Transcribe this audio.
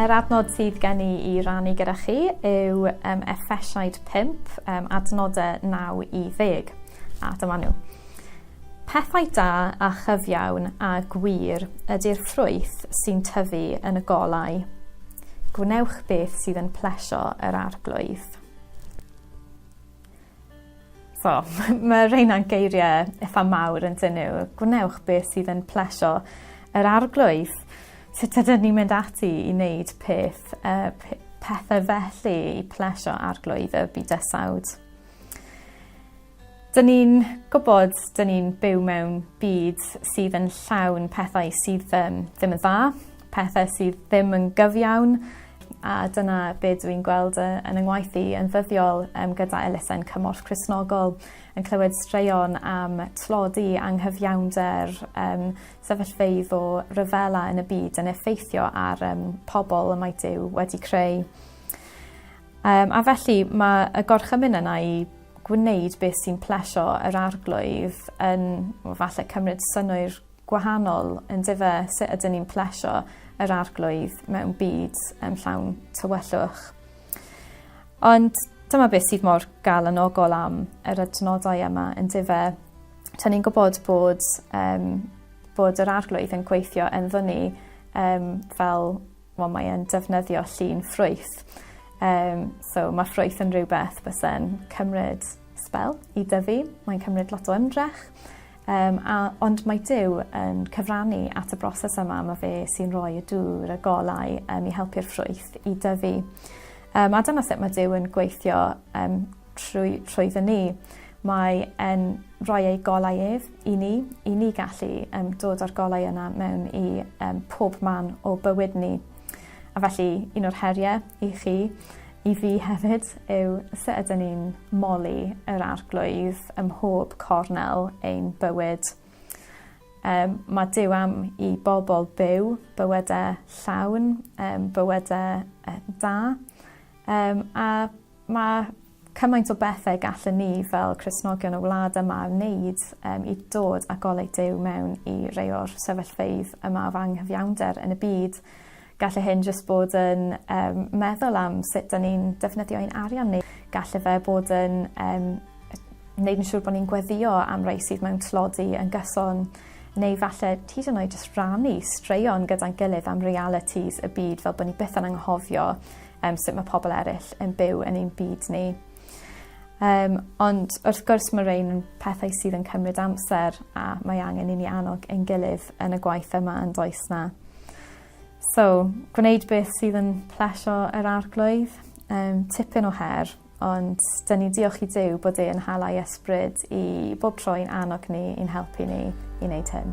Yr adnod sydd gen i i rannu gyda chi yw um, effesiaid 5, um, adnodau 9 i 10. A dyma nhw. Pethau da a chyfiawn a gwir ydy'r ffrwyth sy'n tyfu yn y golau. Gwnewch beth sydd yn plesio yr arglwydd. So ma' reina'n geirie itha mawr yndyn n'w? Gwnewch beth sydd yn plesio yr Arglwydd. Sut ydyn ni'n mynd ati i neud peth yy pe- pethe felly i plesio Arglwydd y bydysawd? 'Dyn ni'n gwbod 'dyn ni'n byw mewn byd sydd yn llawn pethau sydd yym ddim yn dda pethe sydd ddim yn gyfiawn A dyna be' dw i'n gweld yy yn 'yn ngwaith i yn ddyddiol yym gyda elusen Cymorth Cristnogol yn clywed straeon am tlodi anghyfiawnder yym sefyllfeydd o ryfela yn y byd yn effeithio ar yym pobol y mae Duw wedi creu. Yym a felly ma' y Gorchymyn yna i gwneud beth sy'n plesio yr Arglwydd yn wel falle cymryd synnwyr gwahanol, yndyfe, sut ydyn ni'n plesio yr Arglwydd mewn byd yn llawn tywyllwch. Ond dyma beth sydd mor galonogol am yr adnodau yma, yndyfe. Tyn ni'n gwybod bod, um, bod yr Arglwydd yn gweithio yn ddynnu um, fel well, mae e'n defnyddio llun ffrwyth. Um, so mae ffrwyth yn rhywbeth bysen cymryd spel i dyfu. Mae'n cymryd lot o ymdrech. Yym, a, ond mae Duw yn cyfrannu at y broses yma, mae fe sy'n rhoi y dŵr, y golau um, i helpu'r ffrwyth i dyfu. Um, a dyna sut mae Duw yn gweithio um, trwy, trwy fy ni. Mae yn rhoi ei golau ef i ni, i ni gallu um, dod o'r golau yna mewn i um, pob man o bywyd ni. A felly, un o'r heriau i chi, i fi hefyd, yw sut ydyn ni'n moli yr Arglwydd ym mhob cornel ein bywyd. Um, mae Dyw am i bobl byw bywydau llawn, um, bywydau uh, da, um, a mae Cymaint o bethau gallen ni fel Cristnogion y wlad yma wneud i dod â golau Duw mewn i rei o'r sefyllfeydd yma o anghyfiawnder yn y byd. Galle hyn jyst bod yn meddwl am sut 'da ni'n defnyddio ein arian neu galle fe bod yn wneud yn siŵr bod ni'n gweddïo am rei sydd mewn tlodi yn gyson neu falle hyd yn oed jyst rhannu straeon gyda'n gilydd am realities y byd fel bo' ni byth yn anghofio Yym sut mae pobl eryll yn byw yn ein byd ni. Yym ond wrth gwrs ma' rein yn pethau sydd yn cymryd amser a mae angen i ni annog ein gilydd yn y gwaith yma yndoes ma'? So gwneud beth sydd yn plesio yr Arglwydd. Yym tipyn o her ond 'dyn ni diolch i Duw bod e yn hala ei ysbryd i bob tro i'n annog ni i'n helpu ni i neud hyn.